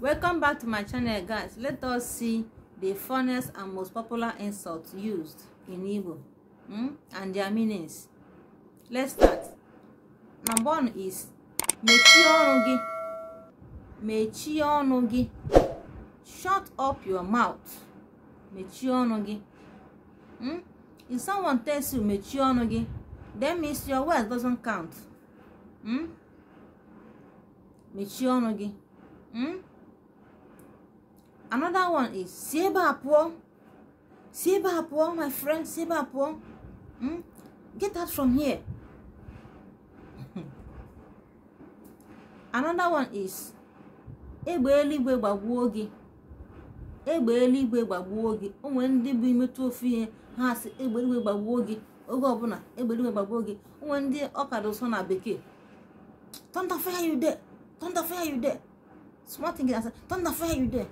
welcome back to my channel guys let us see the funniest and most popular insults used in Igbo hmm? and their meanings let's start number one is mechie ọnụ gị mechie ọnụ gị shut up your mouth mechie ọnụ gị hmm? if someone tells you mechie ọnụ gị that means your words doesn't count hmm? mechie ọnụ gị hmm? another one is si ebe a pụọ si ebe a pụọ my friend si ebe a pụọ hmm? get out from here another one is egbe eluigwe gbagbuo gị egbe eluigwe gbagbuo gị o nwere ndị bụ i metụ ofu ihe ha asị egbe eluigwe gbagbuo gị oge ọbụla egbe eluigwe gbagbuo gị o nwere ndị ọ ka adị ụsọ na bekee thunder fire you there thunder fire you there small thing ha asị thunder fire you there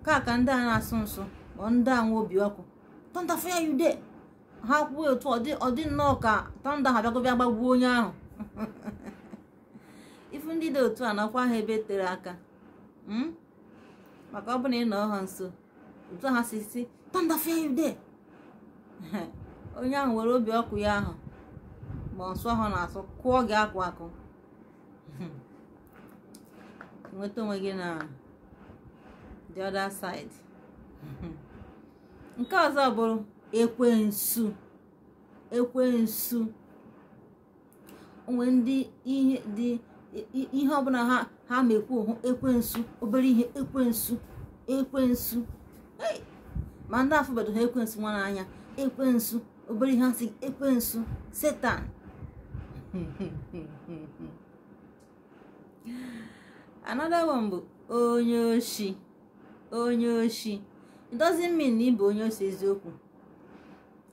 ka ka ndị a na-asụ nsụ ọ ndị a nwe obi ọkụ thunder fire you there ha kwuo otu ọ dị nnọọ ka thunder ha bịago bịa gbagbuo onye ahụ ị fụ ndị dị otu a nọkwa ha ebe tere aka hmm? maka ọ bụ na ị nọ ha nso otu ha si sị thunder fire you there onye ahụ were obi ọkụ ya ahụ ma nsụ ahụ ọ na-asụ kụọ gị akụ akụ nweta onwe gị na the other side nke ọzọ bụrụ ekwensu ekwensu o nwere ndị ihe dị ihe ọbụla ha ha ma ekwu bụ ekwensu obere ihe ekwensu ekwensu ma ndị afụbedo ha ekwensu nwa n'anya ekwensu obere ihe asị ekwensu satan another one bụ onye oshi onye oshi it doesn't mean na ị bụ onye oshi eziokwu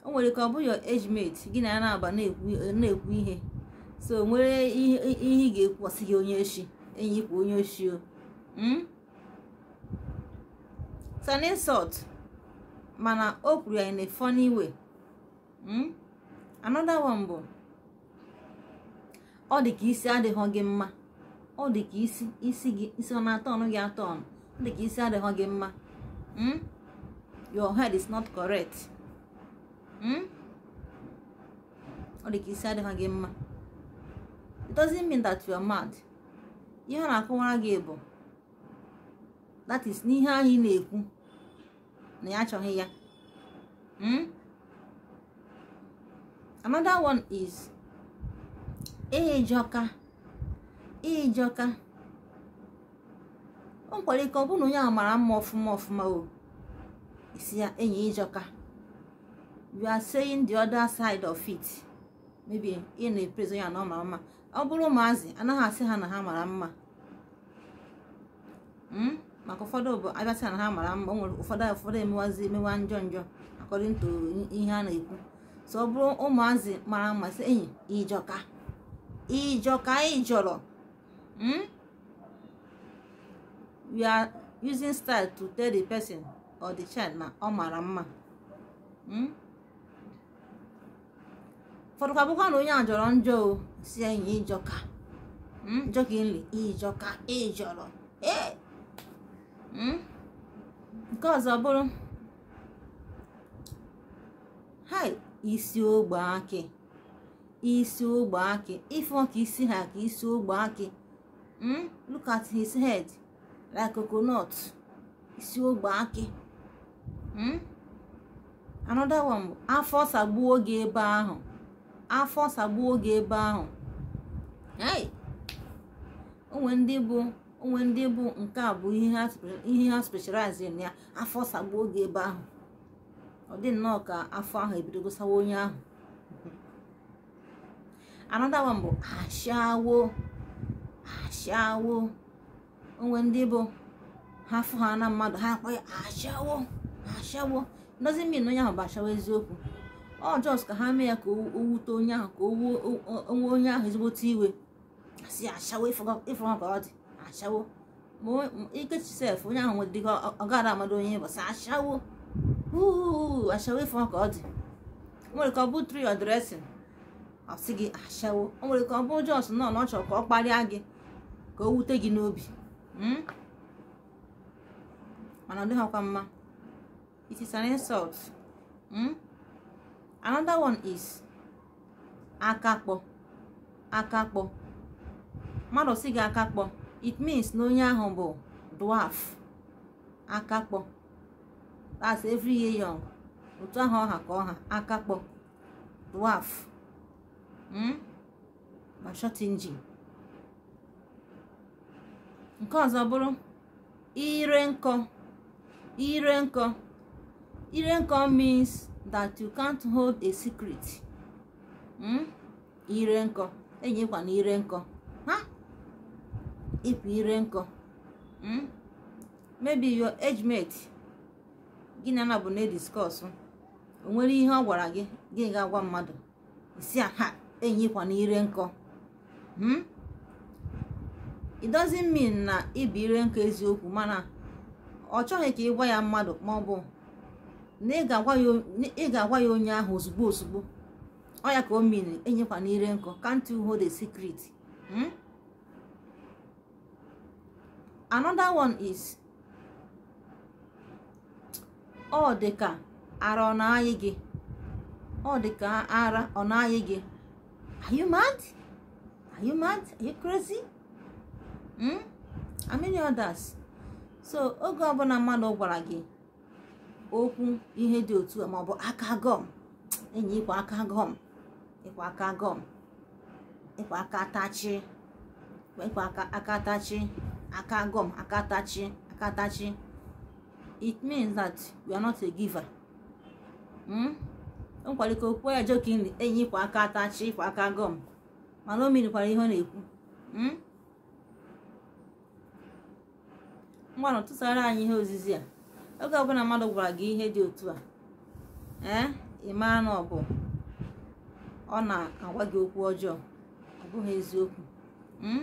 o nwere ka ọ bụrụ your age mate gị na ya na-aba na-ekwu ihe so o nwere ihe ị ga-ekwu ọ sị gị onye oshi enyi ị bụkwa onye oshi o hmm? it's an insult mana o kwuru ya in a funny way hmm? another one bụ ọ dị ka isi adịghị gị mma ọ dị ka isi isi gị isi ọ na-atọnụ gị atọnụ ọ dị ka isi adịghị gị mma hmm? your head is not correct hmm? ọ dị ka isi adịghị gị mma it doesn't mean that you are mad ihe ọ na-akọwara gị bụ that is n'ihe anyị na-ekwu na ya achọghị ya hmm? another one is ị jọka ị jọka o nwere ike ọ bụrụ na onye ahụ mara mma ọfụma ọfụma o ị sị ya enyi ị jọka you are saying the other side of it maybe ị na-epraise ya na ọ mara mma ọ bụrụ ụmụazị anaghị asị ha na ha mara mma hmm? maka ụfọdụ bụ a bịa sị na ha mara mma nwere ụfọdụ ụfọdụ emewazi emewa njọ njọ according to ihe a na-ekwu so ọ bụrụ ụmụazị mara mma sị enyi ị jọka ị jọka ị jọrọ hmm? we are using style to tell the person or the child na ọ mara mma hmm? ụfọdụ ka bụkwa na onye a jọrọ njọ ọ sị enyi ị jọka hmm, jokingly ị jọka ị jọrọ ee hmm? nke ọzọ bụrụ hai isi ogbe akị isi ogbe akị ị fụ ka isi ha ka isi ogbe akị hmm? look at his head like coconut isi ogbe akị hmm? another one bụ afọ sagbuo gị ebe ahụ afọ sagbuo gị ebe ahụ o nwe ndị bụ o nwe ndị bụ nke a bụ ihe ha specialize na ya afọ sagbuo gị ebe ahụ ọ dị nnọọ ka afọ ahụ ebidogo sawa onye ahụ another one bụ ashawo ashawo o nwe ndị bụ ha fụhana mmadụ ha akpọ ya ashawo ashawo doesn't mean onye ahụ bụ ashawo eziokwu ọ just ka ha mee ya ka o wute onye ahụ ka o wee onye ahụ ezigbote iwe a sị ya ashawo ị fụrụ ka ọ dị ashawo ma ikechi sef onye ahụ nwere dịka ọ gara amado onye ịbọsa ashawo uu ashawo ị fụrụ ka ọ dị o nwere ike ọ bụ through your dressing ọ sị gị ashawo o nwere ike ọ bụ just na ọ chọrọ ka ọ kparịa gị ka o wute gị n'obi hmm? mana ọ dịghịkwa mma it is an insult hmm? another one is akakpọ akakpọ mmadụ sị gị akakpọ it means na onye ahụ bụ dwarf akakpọ that's every year young otu ahụ ọ ha ka ọ ha akakpọ dwarf hmm? ma short engine nke ọzọ bụrụ ire nkọ ire nkọ ire nkọ means that you can't hold a secret hmm? ire nkọ enyi ịkwa na ire nkọ ha ịpụ ire nkọ hmm? maybe your age mate gị na ya na bụ na-ediscuss o nwere ihe ọ gwara gị gị ga-agwa mmadụ ị sị ha enyi ịkwa na ire nkọ hmm? it doesn't mean na ị bụ ire nkọ eziokwu mana ọ chọghị ka ị gwa ya mmadụ ma ọ bụ na ị ga-agwa ya onye ahụ ozugbo ozugbo ọ ya ka o mean enyi ịkwa na ire nkọ can't you hold a secret hmm? another one is ọ dị ka ara ọ na-ayị gị ọ dị ka ara ọ na-ayị gị are you mad are you mad are you crazy hmm? and many others so oge ọbụla mmadụ gwara gị okwu ihe dị otu a maọbụ aka gọm enyi ịkwa aka gọm ịkwa aka gọm ịkwa aka tachi ịkwa aka tachi aka gọm aka tachi aka tachi it means that you are not a giver hmm? o nwekwara ike o kwuo ya jokingly enyi ịkwa aka tachi ịkwa aka gọm mana o meanikwara ihe ọ na-ekwu hmm? ngwanụ tụsara anyị ihe ozizi a oge ọbụla mmadụ gwara gị ihe dị otu a ee eh? ị maa na ọ bụ ọ na-agwa gị okwu ọjọọ ọ bụghị eziokwu hmm?